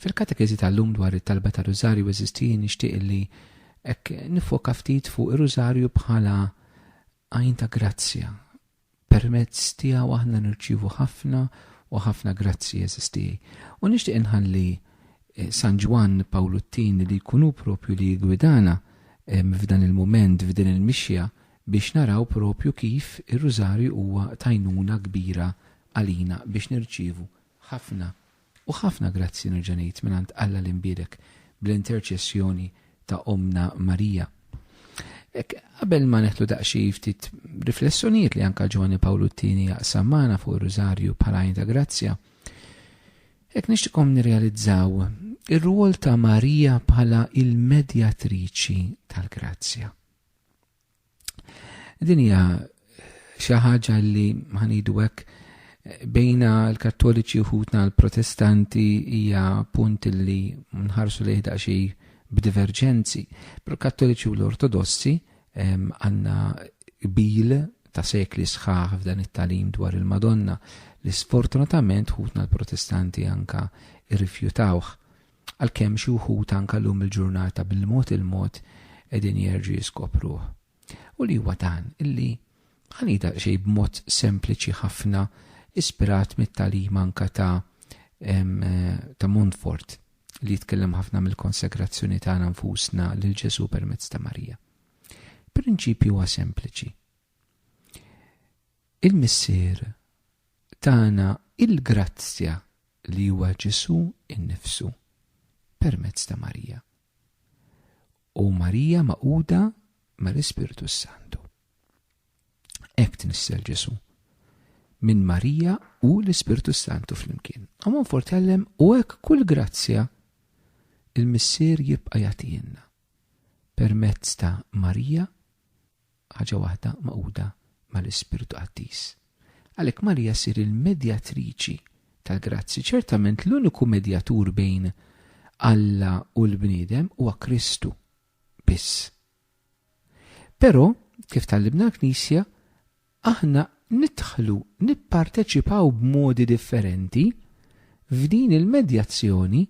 Fil-katekeżi tal-lum dwar it-talba ta' rużarju eżisti nixtieq li hekk nifoka ftit fuq ir-rużarju bħala għajn ta' grazzja. Permezz tiegħu aħna nirċievu ħafna u ħafna grazzji eżisti. U nixtieq inħalli eh, San Ġwann Pawlu t-Tieni li jkun hu propju li jigwidana eh, f'dan il-mument, f'din il-mixja biex naraw propju kif ir-rużarju huwa tajnuna kbira għalina biex nirċievu Ħafna u ħafna grazzi nerġa' ngħid mingħand Alla l-Imbiedek bl-interċessjoni ta' Ommna Marija. Hekk qabel ma neħdu daqsxi ftit riflessjonijiet li anka Ġwanni Pawlu t-tieni jaqsam magħna fuq ir-Rużarju bħala għajn ta' grazzja, hekk nixtikom nirrealizzaw ir-rwol ta' Marija bħala il-medjatriċi tal-grazzja. Din hija xi ħaġa li ħanidu hekk bejna l-kattoliċi uħutna l-protestanti hija punt li nħarsu li jihda xi b'diverġenzi. Pero kattoliċi u l-ortodossi għanna bil ta' sekli sħaħ f'dan it-talim dwar il-Madonna li sfortunatament ħutna l-protestanti anka irrifjutawh. Għalkemm xi wħud anke llum il-ġurnata bil-mod il-mod qegħdin jerġgħu jiskopruh. U li huwa dan, illi ħa ngħid daqsxejn b'mod sempliċi ħafna ispirat mit-tagħlim anke ta' ta' Montfort li jitkellem ħafna mill-konsegrazzjoni tagħna nfusna lil Ġesu permezz ta' Marija. Prinċipju huwa sempliċi. Il-Missier tana il-grazzja li huwa Ġesù nnifsu permezz ta' Marija, u Marija magħquda mal-Ispirtu s-Santu. Hekk tnissel Ġesù, minn Marija u l-Ispirtu s-Santu flimkien. U Monfort jgħallem u hekk kull grazzja il-Missier jibqa' jagħtihilna permezz ta' Marija ħaġa waħda magħquda mal-ispirtu qaddies. Għalhekk Marija ssir il-medjatriċi tal-grazzji. Ċertament l-uniku medjatur bejn Alla u l-bniedem huwa Kristu biss. Però, kif tallibna l-Knisja, aħna nidħlu nipparteċipaw b'modi differenti f'din il-medjazzjoni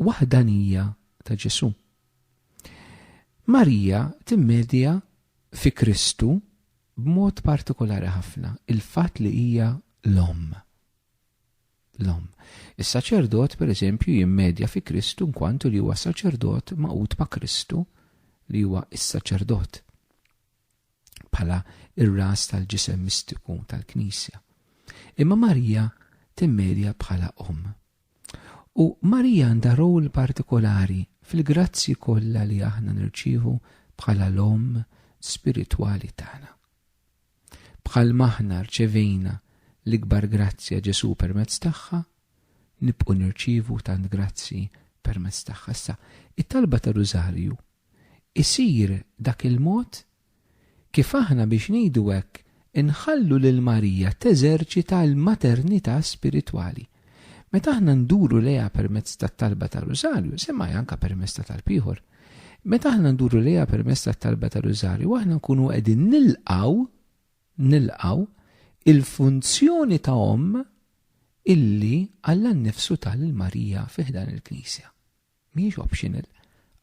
waħdanija ta' Ġesu. Marija timmedja fi Kristu b'mod partikolari ħafna il-fatt li hija l-Omm. L-Omm. Is-saċerdot, pereżempju, jimmedja fi Kristu nkwantu li huwa saċerdot magħqud ma' Kristu li huwa s-saċerdot. bħala ir-ras tal-ġisem mistiku tal-Knisja. Imma Marija timmedja bħala omm. U Marija għandha rol partikolari fil-grazzi kollha li aħna nirċievu bħala l-omm spiritwali tagħna. Bħal maħna rċevejna l-ikbar grazzja Ġesu permezz tagħha, nibqu nirċivu tant grazzi permezz tagħha. Issa, it-talba ta' Rużarju isir dak il-mod kif aħna biex ngħidu hekk inħallu lil Marija teżerċita l-maternità spiritwali. Meta aħna nduru lejha permezz tat-talba tar-Rużarju, semmha anke permezz ta' talb ieħor, meta aħna nduru lejha permezz tat-talba tar-Rużarju aħna nkunu qegħdin nilqgħu nilqgħu il-funzjoni ta' omm illi Alla nnifsu ta lil Marija fi ħdan il-Knisja. Mhijiex optional,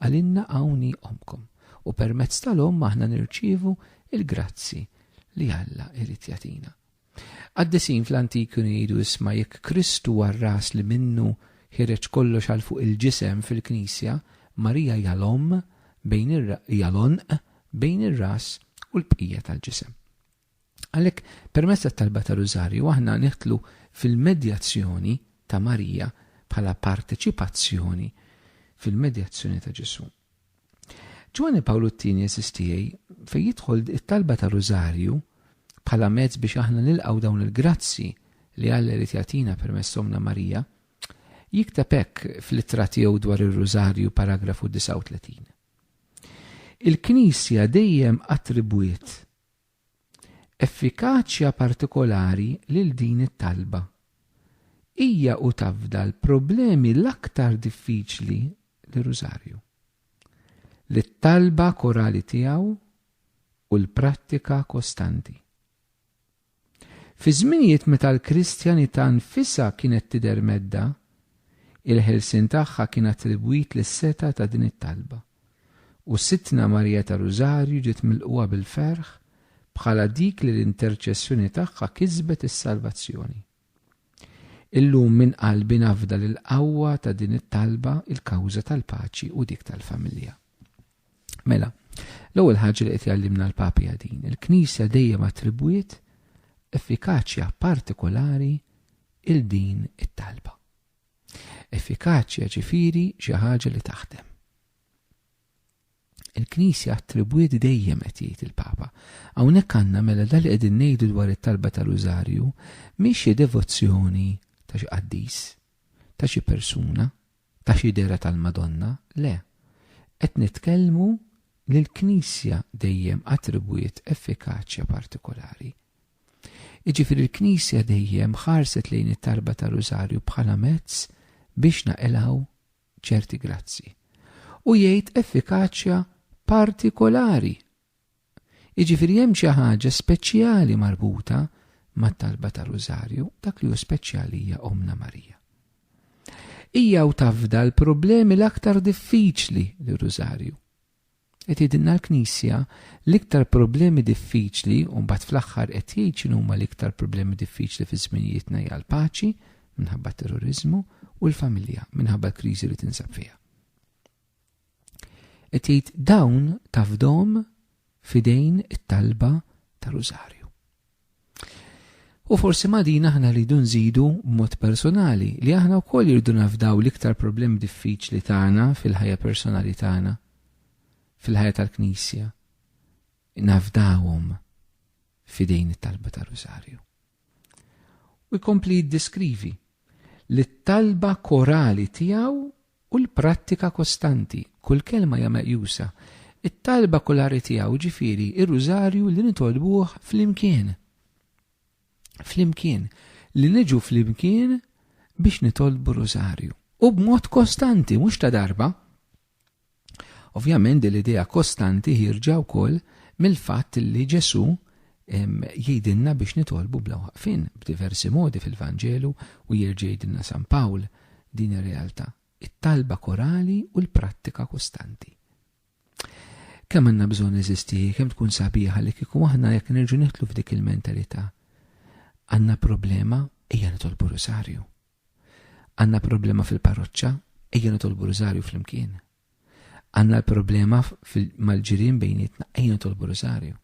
għalinna hawn hi Ommkom u permezz tal-Omm aħna nirċievu l-grazzji li Alla jrid jagħtina. Qaddisin fl-antik kienu jgħidu isma' jekk Krist huwa r-ras li minnu ħireġ kollox għal fuq il-ġisem fil-Knisja, Marija hija l-Omm bejn hija l-għonq bejn ir-ras u l-bqija tal-ġisem. Għalhekk, permezz tat-talba ta' Rużarju aħna nidħlu fil-medjazzjoni ta' Marija bħala parteċipazzjoni fil-medjazzjoni ta' Ġesù. Ġwanni Pawlu t-Tieni, għeżież tiegħi, fejn jidħol it-talba ta' Rużarju bħala mezz biex aħna nilqgħu dawn il-grazzji li Alla jrid jagħtina permezz Ommna Marija, jikteb hekk fl-ittra tiegħu dwar ir-Rużarju paragrafu 39. Il-Knisja dejjem attribwiet effikaċja partikolari lil din it-talba. Hija u tafda l-problemi l-aktar diffiċli li Rużarju, lit-talba korali tiegħu u l-prattika kostanti. Fi żminijiet meta l-Kristjanità nfisha kienet tidher medda, il-ħelsien tagħha kien attribwit lis-setgħa ta' din it-talba, u Sidtna Marija tar-Rużarju ġiet milqugħa bil-ferħ bħala dik li l-interċessjoni tagħha kisbet is-salvazzjoni. Illum minn qalbi nafda lill-qawwa ta' din it-talba, il-kawża tal-paċi u dik tal-familja. Mela, l-ewwel ħaġa li qed jgħallimna l-Papa hija din, il-Knisja dejjem attribwiet effikaċja partikolari il din it-talba. Effikaċja ġifieri xi ħaġa li taħdem. Il-Knisja attribwiet dejjem qed jgħid il-Papa. Hawnhekk għandna mela dak li qegħdin ngħidu dwar it-talba tar-Rużarju mhix xi devozzjoni ta' xi qaddis, ta' xi persuna, ta' xi dehra tal-Madonna, le. Qed nitkellmu li l-Knisja dejjem attribwiet effikaċja partikolari. Jiġifieri l-Knisja dejjem ħarset lejn it-talba tar-Rużarju bħala mezz biex naqilgħu ċerti grazzi u jgħid effikaċja partikolari. Jiġifieri hemm xi ħaġa speċjali marbuta mat-talba ta' Rużarju, dak li hu speċjali hija Omna Marija. Hija u tafda l-problemi l-aktar diffiċli li Rużarju. Qed jgħidilna l-Knisja l-iktar problemi diffiċli u mbagħad fl-aħħar qed jgħid x'inhuma l-iktar problemi diffiċli fi żminijietna hija l-paċi, minħabba t-terroriżmu, u l-familja, minħabba l-kriżi li tinsab fiha. Qed jgħid dawn tafdhom fidejn it-talba ta' rużarju. U forsi ma' din aħna rridu nżidu b'mod personali li aħna wkoll irridu nafdaw l-iktar problemi diffiċli tagħna fil-ħajja personali tagħna, fil-ħajja tal-Knisja. Nafdawhom fidejn it-talba tar-Rusarju. U jkompli jiddeskrivi li t-talba korali tiegħu u l-prattika kostanti, kull kelma hija meqjusa, it-talba kulari tiegħu, jiġifieri r-Rużarju li nitolbuh flimkien. Flimkien, li niġu flimkien biex nitolbu r-Rużarju. U b'mod kostanti, mhux ta' darba. Ovvjament din l-idea kostanti ħierġa wkoll mill-fatt li Ġesù Jgħidilna biex nitolbu bla waqfien, b'diversi modi fil-Vanġelu u jerġa' jgħidilna San Pawl din ir-realtà, it-talba korali u l-prattika kostanti. Kemm għandna bżonn eżisti hi, kemm tkun sabiħa li kieku aħna jekk nerġgħu nidħlu f'dik il-mentalità. Għandna problema, ejja nitolbu Rużarju. Għandna problema fil-parroċċa, ejja nitolbu Rużarju flimkien. Għandna l-problema mal-ġirien bejnietna, ejja nitolbu r-Rusarju.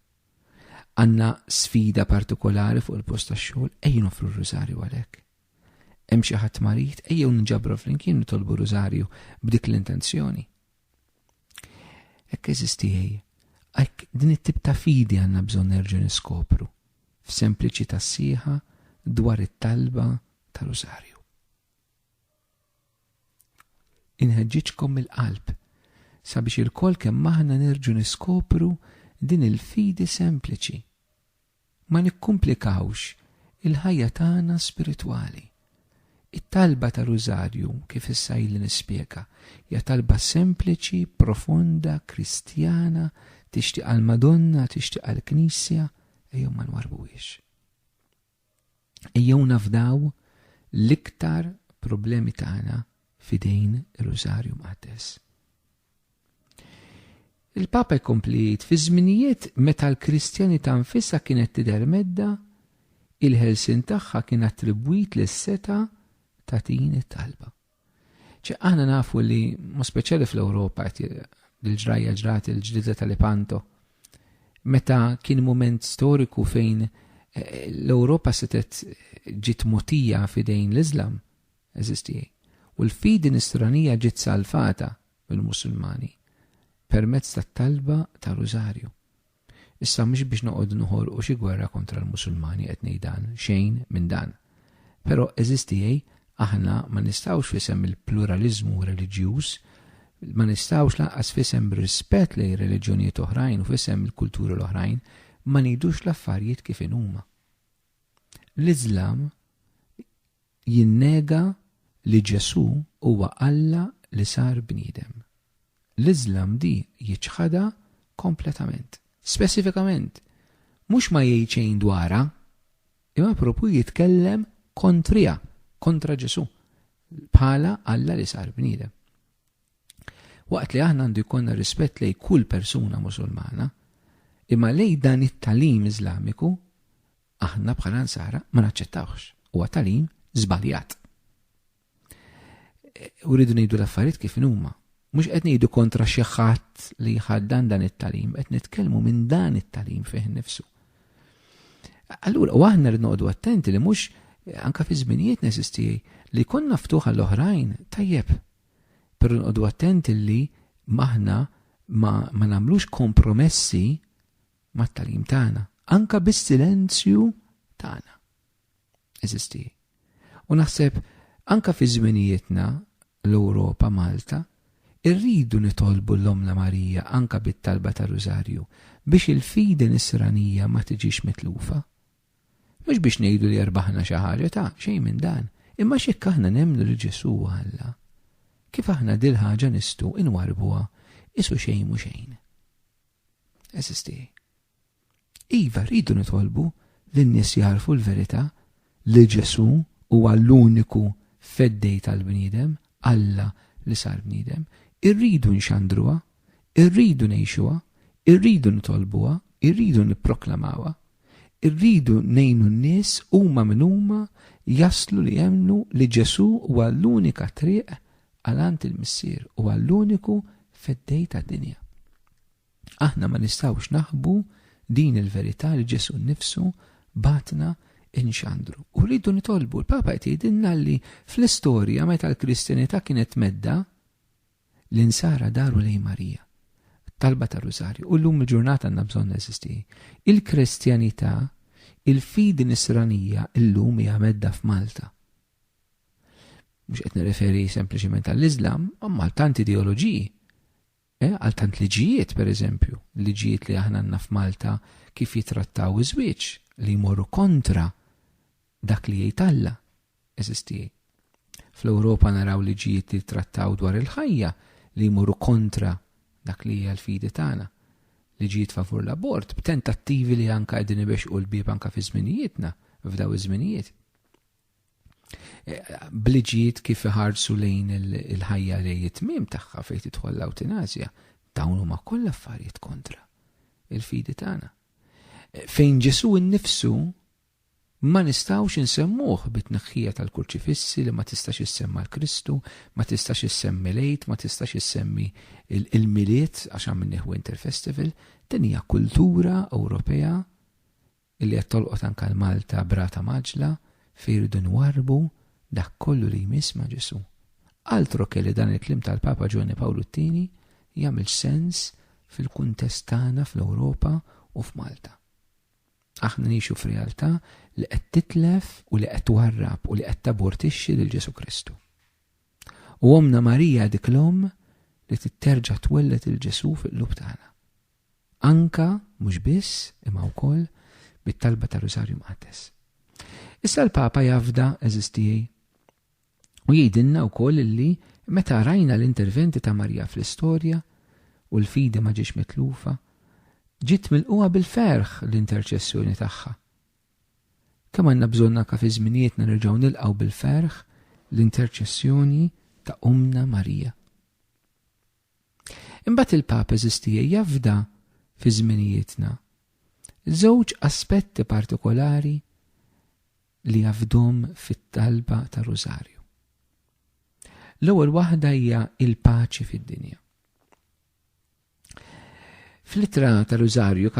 Għandna sfida partikolari fuq il-post tax-xogħol, ejja noffru r-Rusarju għalhekk. Hemm xi ħadd marid, ejjew nġabru flimkien nitolbu r-Rusarju b'dik l-intenzjoni. Hekk eżiż tiegħi, hekk din it-tip ta' fidi għandna bżonn nerġgħu niskopru f'sempliċità sħiħa dwar it-talba ta' Rusarju. Inħeġġiġkom mill-qalb sabiex ilkoll kemm aħna nerġgħu niskopru din il-fidi sempliċi. Ma nikkumplikawx il-ħajja tagħna spiritwali. It-talba ta' Rużarju, kif issa ili nispjega, hija talba sempliċi, profonda, Kristjana, tixtieqha l-Madonna, tixtieqha l-Knisja, ejjew ma nwarrbuhiex. Ejjew nafdaw l-iktar problemi tagħna fidejn ir-Rużarju Mqaddes. Il-Papa jkompli jgħid fi żminijiet meta l-Kristjani ta' nfisha kienet tidher medda, il-ħelsin tagħha kien attribwit lis-seta ta' din it-talba. Ċe aħna nafu li, mo speċjali fl-Ewropa, l-ġrajja ġrat il-ġdida tal-Ipanto, meta kien moment storiku fejn eh, l-Ewropa setet ġiet motija fidejn l-Islam, eżisti, u l-fidi nisranija ġiet salfata mill-Musulmani permezz tat-talba ta' Rużarju. Issa mhux biex noqogħdu noħolqu xi gwerra kontra l-Musulmani qed ngħid dan, xejn minn dan. Però għeżież tiegħi, aħna ma nistgħux f'isem il-pluraliżmu reliġjuż, ma nistgħux lanqas f'isem rispett lejn ir-reliġjonijiet oħrajn u f'isem il-kulturi l-oħrajn ma ngħidux l-affarijiet kif inhuma. L-Iżlam jinnega li Ġesù huwa Alla li sar bniedem. L-Iżlam di jiċħadha kompletament. Speċifikament, mhux ma jgħid xejn dwarha, imma propju jitkellem kontriha, kontra Ġesù, bħala Alla li sar bniedem. Waqt li aħna għandu jkollna rispett lejn kull persuna Musulmana, imma lejn dan it-talim Iżlamiku Aħna bħala nsara ma naċċettawx. Huwa talim żbaljat. E, u rridu ngħidu l-affarijiet kif huma. Mhux qed ngħidu kontra xi ħadd li jħaddan dan it-talim, qed nitkellmu minn dan it-talim fih nifsu. Allura, u aħna rridu noqogħdu attenti li mhux anka fi żminijiet nesisti li konna ftuħa l-oħrajn tajjeb. Però nqogħdu attenti li maħna ma, ma nagħmlux kompromessi mat-tagħlim tagħna, anke bis-silenzju tagħna. Eżisti. U naħseb anke fi żminijietna l-Ewropa Malta irridu nitolbu l-Omna Marija anke bit-talba ta' Rużarju biex il-fidi nisranija ma tiġix mitlufa. Mhux biex ngħidu li erbaħna xi ħaġa ta' xejn minn dan, imma x'hekk aħna nemmnu li Ġesu Alla. Kif aħna dil ħaġa nistu inwarbuha isu xejn mhu xejn. Eżis tiegħi. Iva, rridu nitolbu li n-nies jagħrfu l-verità li Ġesù huwa l-uniku Feddej tal-bniedem, Alla li sar bniedem. Irridu nxandruha, irridu ngħixuha, irridu nitolbuha, irridu nipproklamawha. Irridu ngħinu n-nies huma min huma jaslu li jemmnu li Ġesù huwa l-unika triq għal għand il-Missier u għall-uniku Feddej tad-dinja. Aħna ma nistgħux naħbu din il-verità li Ġesù nnifsu bagħatna inxandru. U rridu nitolbu, l-Papa qed jgħidilna li fl-istorja meta l-Kristjanità kienet medda, L-insara daru lejn Marija. Talba tar-Rużarju. U llum il-ġurnata għandna bżonn eżisti. Il-Kristjanità, il-fidi nisranija llum hija medda f'Malta. Mhux qed nirreferi sempliċement għall-Iżlam, imma għal tant ideoloġiji. Eh, għal tant liġijiet, pereżempju, liġijiet li aħna għandna f'Malta kif jitrattaw iż-żwieġ li jmorru kontra Dak li jgħid Alla, għeżież tiegħi. Fl-Ewropa naraw liġijiet li jittrattaw dwar il-ħajja li jmorru kontra dak li hija l-fidi tagħna. Liġijiet favur l-abort, b'tentattivi li anka qegħdin ibexxqu l-bieb anka fi żminijietna, f'daw iż-żminijiet. E, bliġijiet kif iħarsu lejn il-ħajja li jitmim tagħha fejn tidħol l-awtinazja, dawn huma kollha affarijiet kontra il-fidi tagħna. E, fejn Ġesu nnifsu Ma nistgħux insemmuh bit-tneħħija tal-kurċifissi li ma tistax issemma' l-Kristu, ma tistax issemmi l-Għid, ma tistax issemmi l-Milied għax għamilnieh Winter Festival. Din hija kultura Ewropea li qed tolqot anke l-Malta b'rata mgħaġġla fejn irridu nwarrbu dak kollu li jmiss ma' Ġesù. Altro che li dan il-kliem tal-Papa Ġwanni Pawlu t-Tieni jagħmilx sens fil-kuntest tagħna fl-Ewropa u f'Malta. Aħna ngħixu f'realtà li qed titlef u li qed twarrab u li qed tabortixxi lil Ġesù Kristu. U Ommna Marija hi dik l-Omm li trid terġa' twelled lil Ġesù fil-qlub tagħna. Anka, mhux biss, imma wkoll bit-talba tar-Rusarju Mqaddes. Issa l-Papa jafda, għeżież tiegħi, U jgħidilna wkoll illi meta rajna l-interventi ta' Marija fl-istorja u l-fidi ma ġietx mitlufa, ġiet milqugħa bil-ferħ l-interċessjoni tagħha. Kemm għandna bżonn anke fi żminijietna nerġgħu nilqgħu bil-ferħ l-interċessjoni ta' Ommna Marija. Imbagħad il-Papa Żistija jafda fi żminijietna żewġ aspetti partikolari li jafdhom fit-talba tar-Rużarju. L-ewwel waħda hija il-paċi fid-dinja. Fl-ittra tar-Rużarju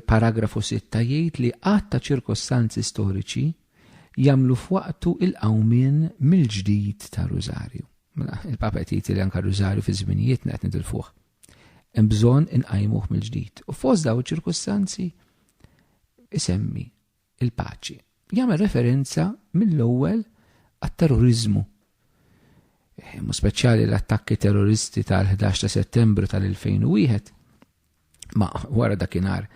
paragrafu 6 jgħid li qatt ta' ċirkostanzi storiċi jagħmlu f'waqtu il-qawmien mill-ġdid ta' Rużarju. Mela, Il-Papa jgħid li anka Rużarju fi żminijiet qed nidilfuh. Hemm bżonn inqajmuh mill-ġdid. U fost daw iċ-ċirkustanzi isemmi il-paċi. Jagħmel referenza mill-ewwel għat-terroriżmu, mu speċjali l-attakki terroristi tal-11 ta' settembru tal-2001, ma wara dakinhar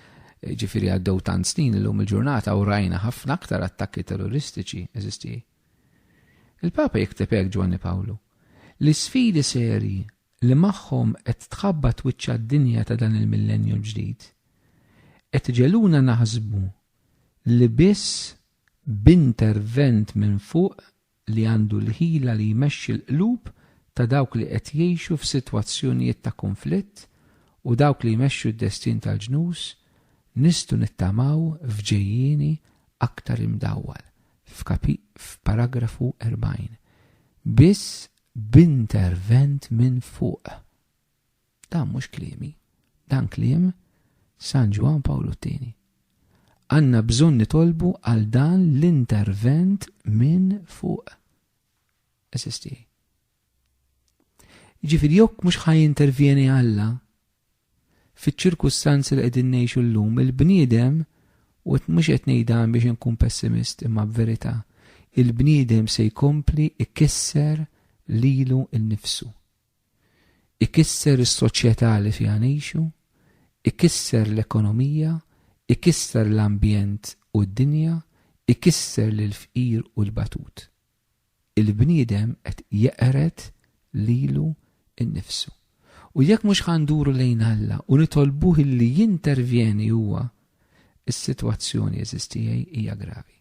ġifiri għaddew tant snin illum il-ġurnata u rajna ħafna aktar attakki terroristiċi eżisti. Il-Papa jikteb hekk Ġwanni Pawlu. L-isfidi serji li magħhom qed tħabbat wiċċha d-dinja ta' dan il-millennju l-ġdid, qed iġegħluna naħsbu li biss b'intervent minn fuq li għandu l-ħila li jmexxi l-qlub ta' dawk li qed jgħixu f'sitwazzjonijiet ta' kunflitt u dawk li jmexxu d-destin tal-ġnus nistgħu nittamaw f'ġejjieni aktar imdawwal, f'paragrafu 40. Biss b'intervent minn fuq. Dan mhux kliemi, dan kliem San Ġwann Pawlu t-Tieni. Għandna bżonn nitolbu għal dan l-intervent minn fuq. Eżisti. Jiġifieri jekk mhux ħa jintervjeni Alla, Fiċ-ċirkustanzi li qegħdin ngħixu llum, il-bniedem, u qed mhux qed ngħid dan biex inkun pessimist imma b'verità, il-bniedem se jkompli jkisser lilu nnifsu. Ikisser is-soċjetà li fiha ngħixu, ikisser l-ekonomija, ikisser l-ambjent u d-dinja, ikisser lill-fqir u l-batut. il-bniedem qed jeqred lilu nnifsu. U jekk mhux ħa nduru lejn Alla u nitolbuh illi jintervjeni huwa, is-sitwazzjoni, għeżież tiegħi, hija gravi.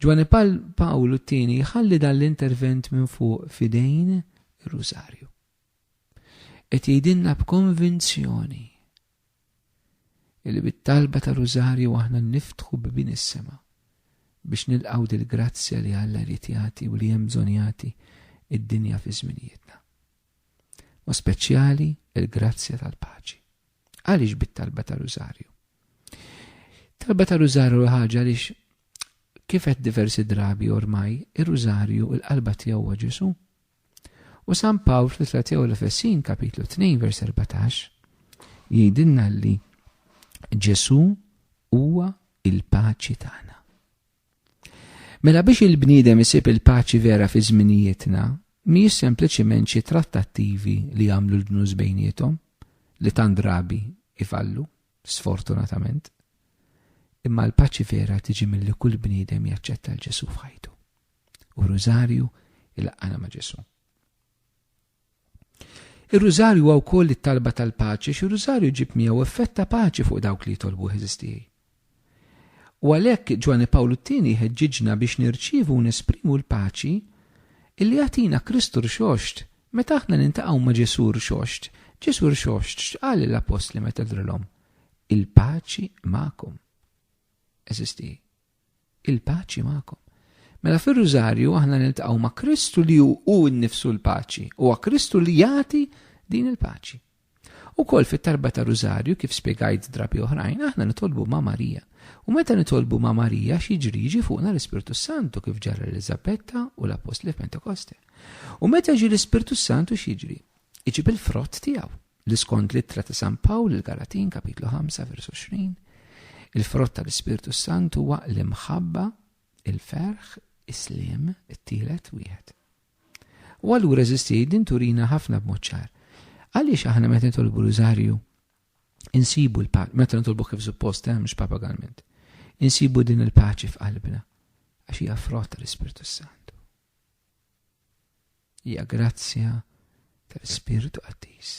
Ġwanni Pawlu t-tieni jħalli dan l-intervent minn fuq f'idejn ir-Rużarju. Qed jgħidilna b'konvinzjoni Illi bit-talba ta' Rużarju aħna niftħu bibien is-sema biex nilqgħu dil-grazzja li Alla jrid jagħti u li hemm bżonn jagħti id-dinja fi żminijietna. Mod speċjali l-grazzja tal-paċi. Għaliex bit-talba ta' Rużarju? Talba ta' Rużarju ħaġa għaliex kif qed diversi drabi ormai, ir-Rużarju il-qalba tiegħu Ġesu' U San Pawl fl-Ittra tiegħu l-Efesin, kapitlu 2, vers 14, jgħidilna li Ġesu huwa il-paċi tagħna. Mela biex il-bniedem isib il-paċi vera fi żminijietna, mhijiex sempliċiment xi trattattivi li jagħmlu l-ġnus bejniethom li tant drabi ifallu, sfortunatament. Imma l-paċi vera tiġi milli kull bniedem jaċċetta l-Ġesu f'ħajtu. u rużarju il-qana ma' Ġesu. Ir-rużarju huwa wkoll it-talba tal-paċi xi rużarju ġib miegħu effett ta' paċi fuq dawk li jitolbu eżistijaj. U għalhekk Ġwanni Pawlu t-tieni jħeġġiġna biex nirċievu u nesprimu l-paċi illi jagħtina Kristu rxoxt meta aħna nintaqgħu ma' Ġesu rxoxt. Ġesu rxoxt x'qal l-appostli meta drilhom? Il-paċi magħkom. Eżistijaj. Il-paċi magħkom. Mela fir-Rużarju aħna niltaqgħu ma' Kristu li hu hu nnifsu l-paċi, huwa Kristu li jagħti din il-paċi. Ukoll fit-tarba ta' Rużarju kif spjegajt drabi oħrajn aħna nitolbu ma' Marija. U meta nitolbu ma' Marija x'jiġri jiġi fuqna l-Ispirtu Santu kif ġara Eliżabetta u l-Appostli f'Pentekoste. U meta jiġi l-Ispirtu Santu x'jiġri? Iġib il-frott tiegħu. li skont l-ittra ta' San Pawl il-Galatin kapitlu 5 versu 20, il-frott tal-Ispirtu Santu huwa l-imħabba, il-ferħ, is-slim, it-tielet wieħed. U allura eżisti din turina ħafna b'moċċar. Għaliex aħna meta nitolbu l-użarju insibu l-paċi, meta nitolbu kif suppost, eh, mhux papagalment, insibu din il-paċi f'qalbna, għax hija frott tal-Ispirtu Santu. Hija grazzja tal-Ispirtu Qaddis.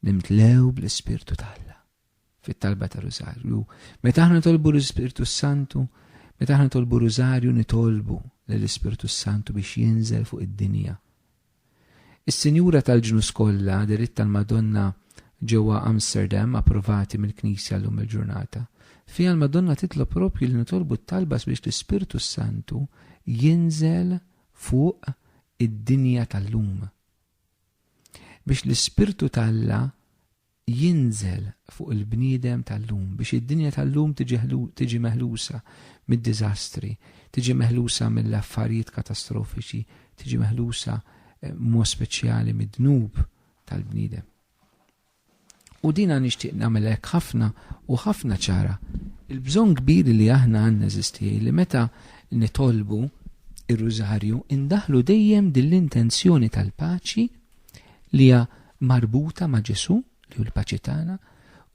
Nimtlew bl-Ispirtu t'Alla fit-talba ta' Rużarju. Meta aħna nitolbu l-Ispirtu Santu, meta aħna nitolbu Rużarju nitolbu lill-Ispirtu Santu biex jinżel fuq id-dinja Is-Sinjura tal-Ġnus Kollha, deritt tal-Madonna ġewwa Amsterdam, approvati mill-Knisja llum il-ġurnata. Fiha l-Madonna titlob proprju li nitolbu t-talba sabiex l-Ispirtu s-Santu jinżel fuq id-dinja tal-lum. Biex l-Ispirtu t'Alla jinżel fuq il-bniedem tal-lum biex id-dinja tal-lum tiġi meħlusa mid-diżastri, tiġi meħlusa mill-affarijiet katastrofiċi, tiġi meħlusa b'mod speċjali mid-dnub tal-bniedem. U dina nixtieq nagħmel hekk ħafna u ħafna ċara. Il-bżonn kbir li aħna għandna eżisti li meta nitolbu ir-rużarju indaħlu dejjem din l-intenzjoni tal-paċi li hija marbuta ma' Ġesù, li hu l-paċi tagħna,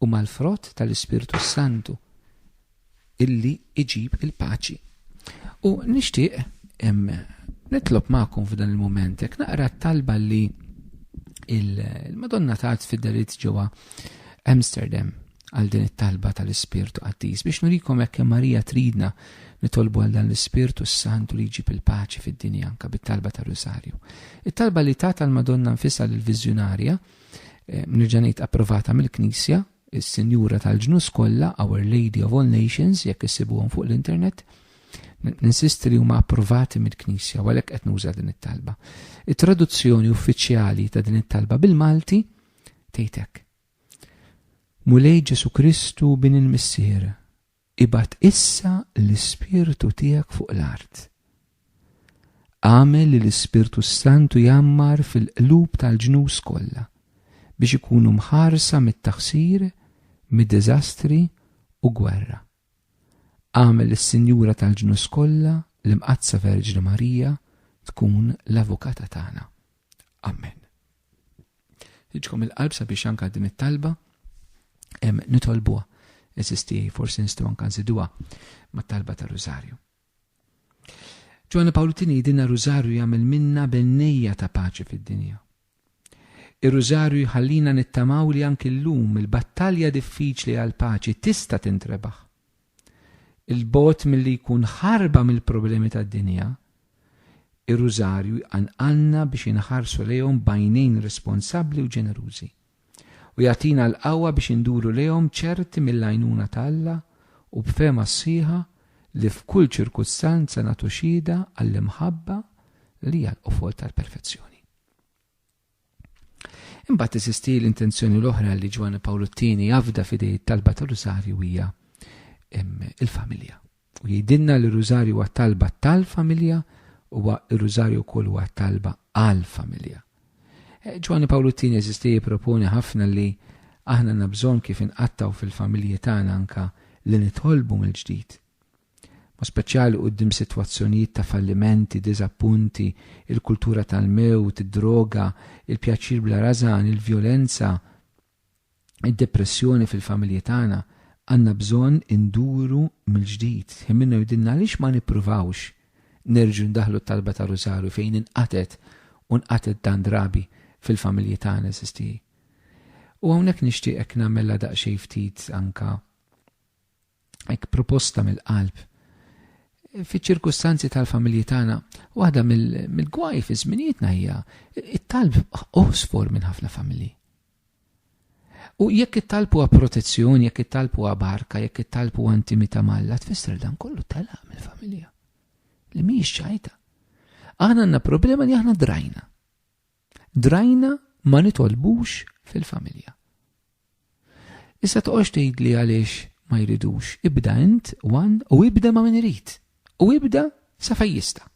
u mal-frott tal-Ispirtu s-Santu, illi iġib il-paċi. U nixtieq nitlob magħkom f'dan il-mument, jekk naqra t-talba li il-Madonna tat fid-darit ġewwa Amsterdam għal din it-talba tal-Ispirtu Qaddis biex nurikom hekk Marija tridna nitolbu għal dan l-Ispirtu s-Santu li jġib il-paċi fid-dinja anka bit-talba tar-Rusarju. It-talba li ta tal-Madonna nfisha lill-Viżjunarja eh, nirġa' ngħid approvata mill-Knisja, is-Sinjura tal-Ġnus kollha, Our Lady of All Nations, jekk issibuhom fuq l-internet, ninsisti li huma approvati mill-Knisja għalhekk qed nuża din it-talba. It-traduzzjoni uffiċjali ta' din it-talba bil-Malti tgħidek Mulej Ġesù Kristu Bin il-Missier, ibgħat issa l-Ispirtu tiegħek fuq l-art. Agħmel li l-Ispirtu s-Santu jgħammar fil-qlub tal-ġnus kollha biex ikunu mħarsa mit-taħsir, mid-diżastri u gwerra. Agħmel lis-Sinjura tal-Ġnus Kollha, l-Imqaddsa Verġni Marija, tkun l-Avukata tagħna. Amen. Iġkom il-qalb sabiex anka din it-talba nitolbuha. Eżisti forsi nistgħu anka nżiduha mat-talba ta' Rużarju. Ġwanni Pawlu tini dinna Rużarju jagħmel minna bennejja ta' paċi fid-dinja. Ir-Rużarju jħallina nittamaw li anki llum il-battalja diffiċli għall-paċi tista' tintrebaħ. 'l bogħod milli jkun ħarba mill-problemi tad-dinja, ir-Rużarju jqanqalna biex inħarsu lejhom b'għajnejn responsabbli u ġenerużi. u jagħtina l-qawwa biex induru lejhom ċerti mill-għajnuna ta' Alla u b'fehma sħiħa li f'kull ċirkustanza nagħtu xhieda għall-imħabba li hija l-qofol tal-perfezzjoni. Imbagħad teżisti l-intenzjoni l-oħra li Ġwanni Pawlu t-Tieni jafda f'idej it-talba tal-Rusarju hija il-familja. U jgħidilna li r-Rużarju huwa talba tal-familja, huwa r-Rużarju wkoll huwa talba għall-familja. Eh, Ġwanni Pawlu t-tieni eżisti jipproponi ħafna li aħna għandna bżonn kif inqattaw fil-familji tagħna anka li nitolbu mill-ġdid. Ma speċjali quddiem sitwazzjonijiet ta' fallimenti, diżappunti, il-kultura tal-mewt, id-droga, il-pjaċir bla rażan, il-vjolenza, id-depressjoni fil-familji tagħna għandna bżonn induru mill-ġdid ħin minnu jgħidilna għaliex ma nippruvawx nerġgħu ndaħħlu t-talba tar-Rużarju fejn inqatgħet u nqatgħet dan drabi fil-familji tagħna eżiż tiegħi. U hawnhekk nixtieqek nagħmilha daqsxejn ftit anke hekk proposta mill-qalb. Fiċ-ċirkustanzi tal-familji tagħna, waħda mill-gwaj fi żminijietna hija it-talb oħsfor minn ħafna familji. U jekk it-talb huwa protezzjoni, jekk it-talb huwa barka, jekk it-talb huwa intimità malla, tfisser dan kollu telaq mill-familja. Li mhijiex ċajta. Aħna għandna problema li aħna drajna. Drajna ma nitolbux fil-familja. Issa toqgħodx tgħidli għaliex ma jridux, ibda int one u ibda ma' min irid. U ibda sa fejn jista'.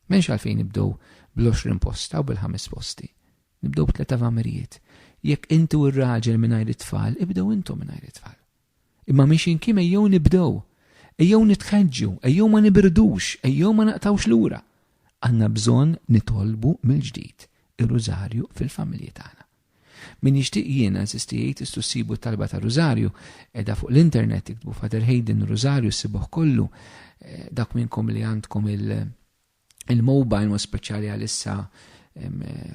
M'hemmx għalfejn nibdew bl-20 posta u bil-ħames posti. Nibdew b'tliet avamirijiet. Jekk inti u r-raġel mingħajr it-tfal, ibdew intom mingħajr it-tfal. Imma mhix inkim ejjew nibdew. Ejjew nitħeġġu, ejjew ma nibirdux, ejjew ma naqtgħux lura. Għandna bżonn nitolbu mill-ġdid ir-Rużarju fil-familji tagħna. Min jixtieq jiena nsisti jgħid tistgħu ssibu t-talba tar-Rużarju qiegħda fuq l-internet iktbu Father Hayden Rużarju ssibuh kollu eh, dak minnkom li għandkom il- Il-mobile ma speċjali għalissa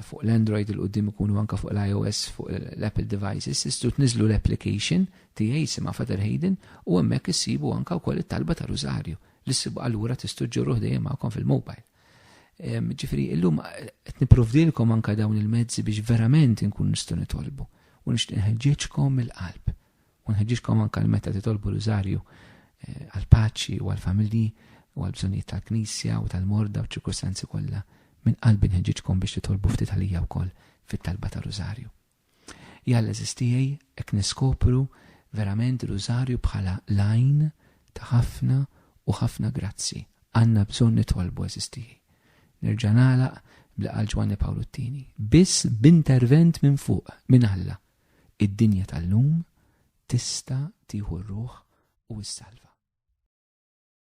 fuq l-Android il-qoddim ikunu anka fuq l-iOS fuq l-Apple devices, istu tniżlu l-application tiegħi sima Father Hayden u hemmhekk issibu anka wkoll it-talba ta' rużarju li ssibu allura tistu ġġorruh dejjem magħkom fil-mobile. Ġifieri illum qed nipprovdilkom anka dawn il-mezzi biex verament inkun nistgħu nitolbu u nixtieq nħeġġiġkom mill-qalb U nħeġġiġkom anke li meta titolbu rużarju eh, għall-paċi u għall-familji u għall-bżonnijiet tal-Knisja u tal-morda u ċirkustanzi kollha, minn qalbi nħeġġiġkom biex titolbu ftit għalija wkoll fit-talba ta' rużarju. Jalla eżistijaj ek niskopru verament rużarju bħala lajn ta' ħafna u ħafna grazzi. Għanna bżon nitolbu eżistijaj. Nerġa nalaq bl-qal Ġwanni Pawlu t-tini. Biss b'intervent minn fuq, minn Alla, Id-dinja tal-lum tista' tieħu r-ruħ u ssalva.